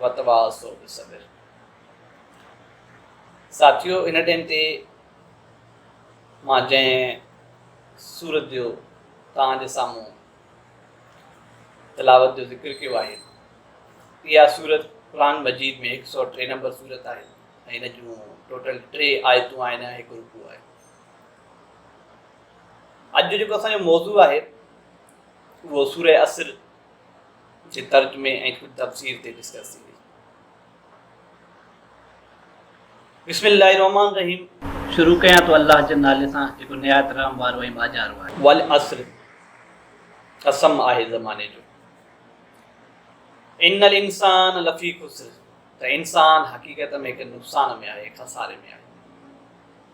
وتواصوا بالصبر ساٿيو ان ٽيم تي مان جنهن سورت جو توهان جي سامهون تلاوت جو ذڪر ڪيو آهي اها سورت قرآن مجيد ۾ هڪ سؤ ٽي نمبر سورت آهي ۽ هن جون ٽوٽل ٽي آيتون آهن هڪ رڪو آهي اڄ جو جيڪو اسانجو موضوع آهي اهو سورة اسر جي ترجمي ۽ خود تفسير تي ڊسڪس ٿيندي بسم الله الرحمن الرحيم شروع ڪيان ٿو الله جي نالي سان جيڪو نهايت رحم وارو ۽ ٻاجهارو آهي والعصر قسم آهي زماني جو ان الانسان لفي خسر ته انسان حقيقت ۾ هڪ نقصان ۾ آهي خساري ۾ آهي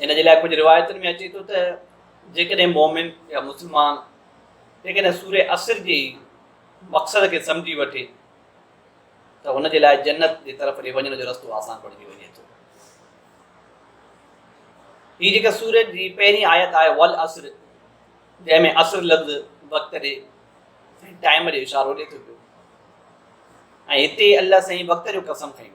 ان جي لاء ڪجهه روايتن ۾ اچي ٿو ته جيڪڏهن مومن يا مسلمان جيڪڏهن سوري عصر جي مقصد کي سمجهي وٺي ته هن جي لاء جنت جي طرف ڏي وڃڻ جو رستو آسان بڻجي وڃي ٿو هي جيڪا سورج جي پهرين آيت آهي ول عصر جنهن ۾ عصر لفظ وقت ڏي ٽائم جو اشارو ڏي ٿو پيو ۽ هتي الله سائين وقت جو قسم کيو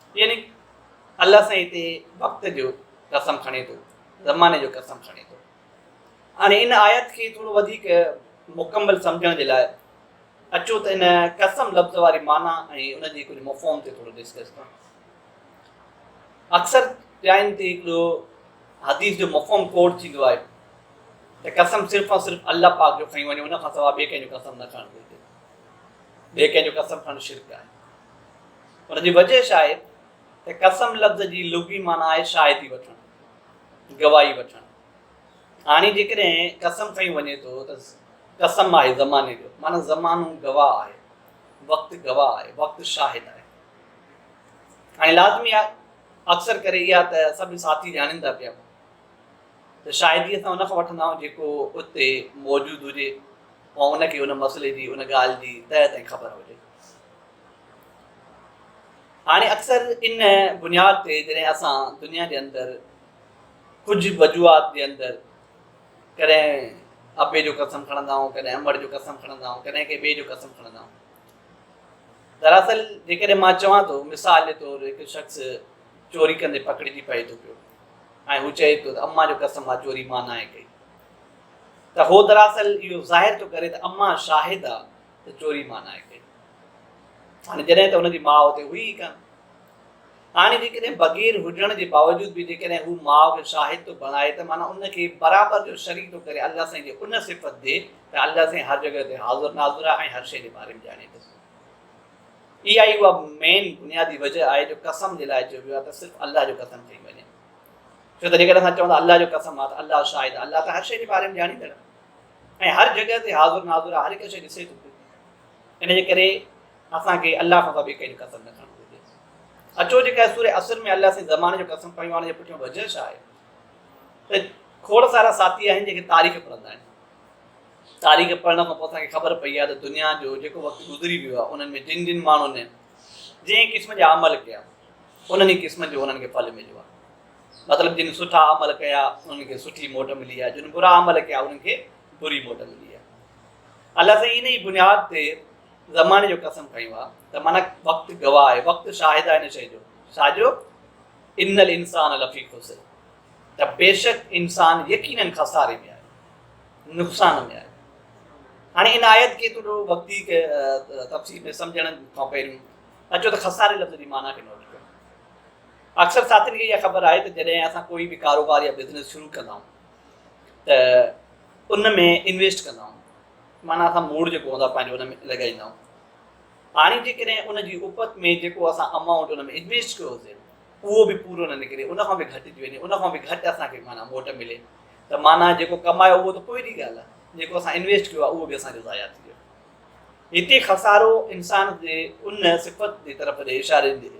يعني الله سائين هتي وقت جو قسم کڻي ٿو، زماني جو قسم کڻي ٿو. هاڻي ان آيت کي ٿورو وڌيڪ مڪمل سمجهڻ جي لاء اچو ته ان قسم لفظ واري معنيٰ ۽ ان جي ڪجهه مفهوم تي ٿورو ڊسڪس ڪرون. اڪثر جاين تي هڪڙو حديث جو مفهوم ڪوٽ ٿيندو آهي ته قسم صرف ۽ صرف الله پاڪ جو کڻي وڃو ان کان سواء ٻئي ڪنهن جو قسم نه کڻڻ گهرجي. ٻئي ڪنهن جو قسم کڻڻ شرڪ آهي. ان جي وجهه ڇا آهي ته قسم لفظ جي لغوي معنيٰ آهي شاهدي وٺڻ، گواهي وٺڻ. هاڻي جيڪڏهن قسم کنيو وڃي ٿو ته قسم آهي زماني جو، معنيٰ زمانو گواهه آهي، وقت گواهه آهي، وقت شاهد آهي. هاڻي لازمي آهي، اڪثر ڪري اها ته سڀ ساٿي ڄاڻين ٿا پيا ته شاهدي اسان ان کان وٺندا آهيون جيڪو اتي موجود هجي، ڪو ان کي ان مسئلي جي ان ڳالهه جي تهه تائين خبر هجي. هاڻي اڪثر ان بنياد تي جڏهن اسان دنيا جي اندر ڪجهه وجوهات جي اندر ڪڏهن ابي جو قسم کڻندا آهيون ڪڏهن امڙ جو قسم کڻندا آهيون ڪڏهن ڪنهن ٻئي جو قسم کڻندا آهيون دراصل جيڪڏهن مان چوان ٿو مثال جي طور هڪ شخص چوري ڪندي پڪڙجي پئي ٿو پيو ۽ هو چئي ٿو ته اما جو قسم آ چوري مان ناهي ڪئي ته هو دراصل اهو ظاهر ٿو ڪري ته اما شاهد آ ته چوري مان ناهي ڪئي. هاڻي جڏهن ته هن جي ماء اتي هئي ئي ڪانه. هاڻي جيڪڏهن بغير هجڻ جي باوجود به جيڪڏهن هو ماء کي شاهد ٿو بڻائي ته معنيٰ ان کي برابر جو شريڪ ٿو ڪري الله سائين جي ان صفت ڏي ته الله سائين هر جڳهه تي حاضر ناظر آهي ۽ هر شيء جي باري ۾ ڄاڻي ٿو سگهي. اها ئي اها مين بنيادي وجه آهي جو قسم جي لاء چئبو آهي ته صرف الله جو قسم کئي وڃي. ڇو ته جيڪڏهن اسان چون ٿا الله جو قسم آ ته الله شاهد آ، الله ته هر شيء جي باري ۾ ڄاڻيندڙ آ ۽ هر جڳهه تي حاضر ناظر آ، هر هڪ شيء ڏسي ٿو پيو. ان جي ڪري اسان کي الله کان سواء ٻئي ڪنهن جو قسم نه کڻڻ گهرجي. اچو جيڪا سورة عصر ۾ الله سائين زماني جو قسم کنيو آ ان جي پٺيان وجهه ڇا آهي ته کوڙ سارا ساٿي آهن جيڪي تاريخ پڙهندا آهن. تاريخ پڙهڻ کان پوء اسان کي خبر پئي آ ته دنيا جو جيڪو وقت گذري ويو آ انهن ۾ جن جن ماڻهن جنهن قسم جا عمل ڪيا انهن ئي قسمن جو انهن کي ڦل مليو آهي. مطلب جن سٺا عمل ڪيا انهن کي سٺي موٽ ملي آهي، جن برا عمل ڪيا انهن کي بري موٽ ملي آهي. الله سائين ان ئي بنياد تي زماني جو قسم کنيو آهي ته معنی وقت گواهه آهي، وقت شاهد آهي ان شيء جو، ڇا جو ان الانسان لفي خسر ته بيشڪ انسان يقينن خساري ۾ آهي، نقصان ۾ آهي. هاڻي ان آيت کي ٿورو وقتي تفصيل ۾ سمجهڻ کان پهريون اچو ته خساري لفظ جي معنيٰ کي نوٽ ڪيون. اڪثر ساٿين کي اها خبر آهي ته جڏهن اسان ڪوئي به ڪاروبار يا بزنس شروع ڪندا آهيون ته ان ۾ انويسٽ ڪندا آهيون معنيٰ اسان موڙ جيڪو هوندا پنهنجو ان ۾ لڳائيندا آهيون هاڻي جيڪڏهن ان جي اپت ۾ جيڪو اسان امائونٽ ان ۾ انويسٽ ڪيو هوسي اهو به پورو نه نڪري ان کان به گهٽجي وڃي ان کان به گهٽ اسان کي معنيٰ موٽ ملي ته معنيٰ جيڪو ڪمايو اهو ته پوء جي ڳالهه آهي جيڪو اسان انويسٽ ڪيو آهي اهو به اسان جو ضايع ٿي ويو هتي خسارو انسان جي ان صفت جي طرف جي اشاري جي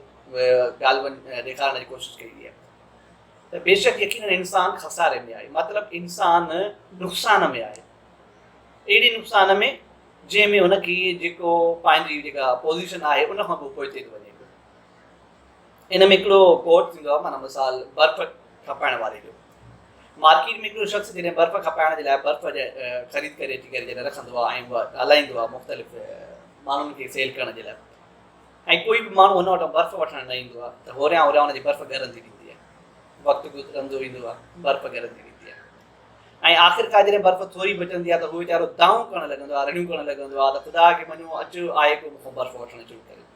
ڳالهه ڏيکارڻ جي ڪوشش ڪئي وئي آهي ته بيشڪ يقينن انسان خساري ۾ آهي مطلب انسان نقصان ۾ آهي اهڙي نقصان ۾ جنهن ۾ هن کي جيڪو پنهنجي جيڪا پوزيشن آهي ان کان پوء پوئتي ٿو وڃي ان ۾ هڪڙو ڪوٽ ٿيندو آهي معنيٰ مثال برف کپائڻ واري جو مارڪيٽ ۾ هڪڙو شخص جڏهن برف کپائڻ جي لاء برف خريد ڪري اچي ڪري جڏهن رکندو آهي ۽ اها ڳالهائيندو آهي مختلف ماڻهن کي سيل ڪرڻ جي لاء ۽ ڪوئي به ماڻهو هن وٽان برف وٺڻ نه ايندو آهي ته هوريان هوريان هن جي برف ڳرندي ويندي آهي وقت گذرندو ويندو آهي برف ڳرندي ويندي ۽ آخر ڪار جڏهن برف ٿوري بچندي آهي ته هو ويچارو دانهون ڪرڻ لڳندو آهي رڙيون ڪرڻ لڳندو آهي ته خدا کي مڃو اچ آء ڪو مون کان برف وٺڻ شروع ڪري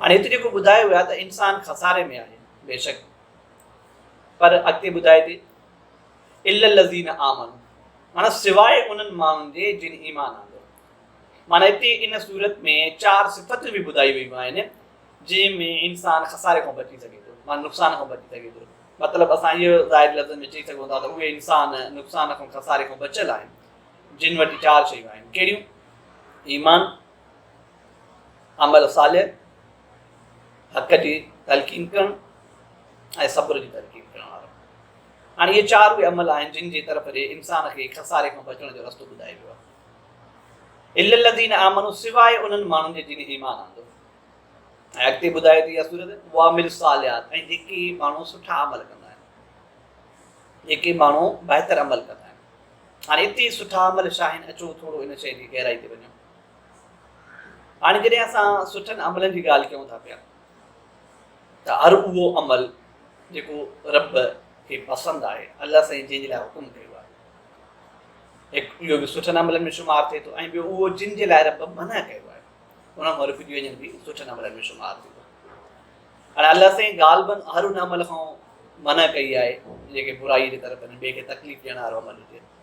هاڻي هت جيڪو ٻڌايو ويو آهي ته انسان خساري ۾ آهي بيشڪ پر اڳتي ٻڌائي ٿي الا الذين آمنوا معنی سواء انهن ماڻهن جي جن ايمان آندو معنی هتي ان صورت ۾ چار صفتون به ٻڌايون ويون آهن جنهن ۾ انسان خساري کان بچي سگهي ٿو معنی نقصان کان بچي سگهي ٿو مطلب اسان اهو ظاهر لفظن ۾ چئي سگهون ٿا ته اهي انسان نقصان کان خساري کان بچيل آهن جن وٽ چار شيون آهن ڪهڙيون ايمان عمل صالح، حق جي تلقين ڪرڻ ۽ صبر جي تلقين ڪرڻ وارو. هاڻي اهي چار اهي عمل آهن جن جي طرف ڏي انسان کي خساري کان بچڻ جو رستو ٻڌايو ويو آهي. الا الذين آمنوا سواء انهن ماڻهن جي جن ايمان آندو. ۽ اڳتي ٻڌائي ٿي اها سورت وعمل صالحات ۽ جيڪي ماڻهو سٺا عمل ڪندا آهن. جيڪي ماڻهو بهتر عمل ڪندا آهن. هاڻي اتي سٺا عمل شاهين اچو ٿورو ان شيء جي گهرائي تي وڃو. هاڻي جڏهن اسان سٺن عملن جي ڳالهه ڪيون ٿا پيا ته هر اهو عمل جيڪو رب کي پسند آهي الله سائين جنهن جي لاء حڪم ڪيو آهي هڪ اهو به سٺن عملن ۾ شمار ٿئي ٿو ۽ ٻيو اهو جن جي لاء رب منع ڪيو آهي ان مان رڪجي وڃن به سٺن عملن ۾ شمار ٿيندو هاڻي الله سائين غالبن هر ان عمل کان منع ڪئي آهي جيڪي برائي جي طرف ٻئي کي تڪليف ڏيڻ وارو عمل هجي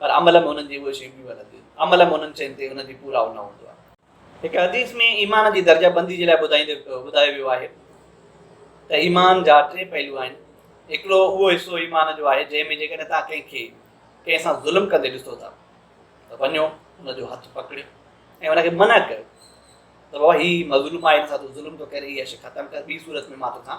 پر عمل ۾ انهن جي اهي شيون بيون هلنديون آهن. عمل ۾ انهن شين تي انهن جي پورائو نه هوندو آهي. هڪ حديث ۾ ايمان جي درجه بندي جي لاء ٻڌائيندي ٻڌايو ويو آهي ته ايمان جا ٽي پهلو آهن. هڪڙو اهو حصو ايمان جو آهي جنهن ۾ جيڪڏهن توهان ڪنهن کي ڪنهن سان ظلم ڪندي ڏسو ٿا ته وڃو ان جو هٿ پڪڙيو ۽ ان کي منع ڪيو ته بابا هي مظلوم آهي هن سان تو ظلم ٿو ڪرين هي شي ختم ڪر ٻي صورت ۾ مان توکان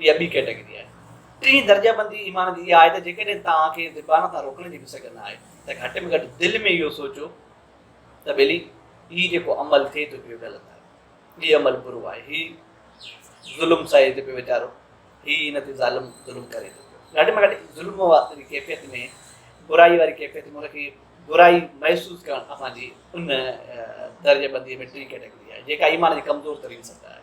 اها ٻي ڪيٽيگري آهي. ٽين درجابندي ايمان جي اها آهي ته جيڪڏهن توهان کي زبان تان روڪڻ جي به سگهه نه آهي ته گهٽ ۾ گهٽ دل ۾ اهو سوچو ته ٻيلي هي جيڪو عمل ٿئي ٿو پيو غلط آهي، هي عمل برو آهي، هي ظلم سهي ٿو پيو ويچارو، هي هن تي ظالم ظلم ڪري ٿو پيو. گهٽ ۾ گهٽ ظلم واري ڪيفيت ۾ برائي واري ڪيفيت ۾ ان کي برائي محسوس ڪرڻ اسان جي ان درجابندي ۾ ٽين ڪيٽيگري آهي جيڪا ايمان جي ڪمزور ترين سطح آهي.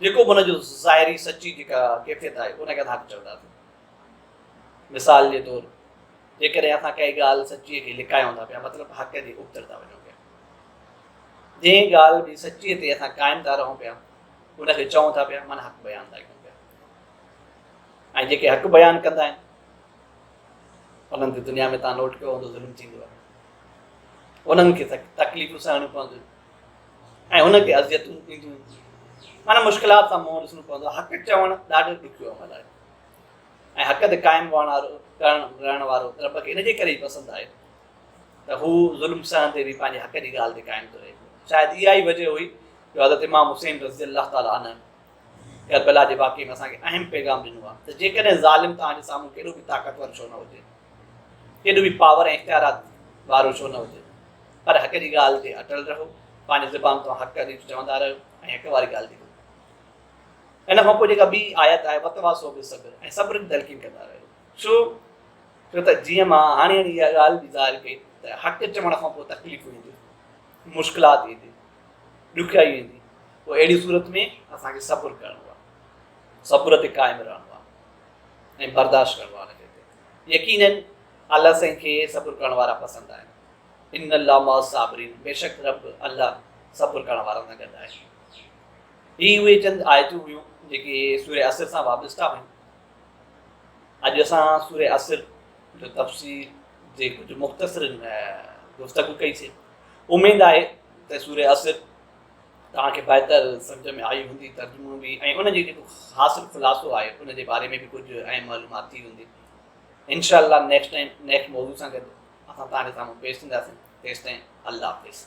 جيڪو به ان جو ظاهري سچي جيڪا ڪيفيت آهي ان کي اسان حق چونداسين مثال جي طور جيڪڏهن اسان ڪنهن ڳالهه سچي کي لڪايون ٿا پيا مطلب حق جي ابتر ٿا وڃون پيا جنهن ڳالهه جي سچي تي اسان قائم ٿا رهون پيا ان کي چون ٿا پيا من حق بيان ٿا ڪيون پيا ۽ جيڪي حق بيان ڪندا آهن انهن تي دنيا ۾ تان نوٽ ڪيو هوندو ظلم ٿيندو آهي انهن کي تڪليفون سهڻيون پونديون ۽ هن کي اذيتون ٿينديون معنيٰ مشڪلات سان منهن ڏسڻو پوندو حق چوڻ ڏاڍو ڏکيو عمل آهي ۽ حق تي قائم هئڻ وارو ڪرڻ رهڻ وارو رب کي ان جي ڪري پسند آهي ته هو ظلم سهندي به پنهنجي حق جي ڳالهه تي قائم ٿو رهي شايد اها ئي وجه هئي جو حضرت امام حسين رضي الله تعالٰي عنه ڪربلا جي واقعي ۾ اسان کي اهم پيغام ڏنو آهي ته جيڪڏهن ظالم توهان جي سامهون ڪيڏو به طاقتور ڇو نه هجي ڪيڏو به پاور ۽ اختيارات وارو ڇو نه هجي پر حق جي ڳالهه تي اٽل رهو، پنهنجي زبان تان حق حديث چوندا رهيو ۽ حق واري ڳالهه تي ٻڌندا رهيو. ان کان پوء جيڪا ٻي آيت آهي وتواصو بالصبر ۽ صبر جي تلقين ڪندا رهيو. ڇو جو ته جيئن مان هاڻي هاڻي اها ڳالهه به ظاهر ڪئي ته حق چوڻ کان پوء تڪليفون اينديون، مشڪلات ايندي، ڏکيائيون ايندي، پوء اهڙي صورت ۾ اسان کي صبر ڪرڻو آهي، صبر تي قائم رهڻو آهي ۽ برداشت ڪرڻو آهي ان کي تي. يقينن الله سائين کي صبر ڪرڻ وارا پسند آهن. ان الله مع الصابرين بيشڪ رب، الله، صبر ڪرڻ وارن سان گڏ آهي. هي اهي چند آيتون هيون جيڪي سوره عصر سان وابسته هيون. اڄ اسان سوره عصر جو تفسير جي ڪجهه مختصر گفتگو ڪئي سي. اميد آهي ته سوره عصر توهان کي بهتر سمجھ ۾ آئي هوندي، ترجمو به ۽ ان جي جيڪو حاصل خلاصو آهي ان جي باري ۾ به ڪجهه اهم معلومات ٿي هوندي. انشاء الله نيڪسٽ ٽائيم نيڪسٽ موضوع سان گڏ اسان توهان جي سامهون پيش ٿينداسين، تيستائين الله حافظ.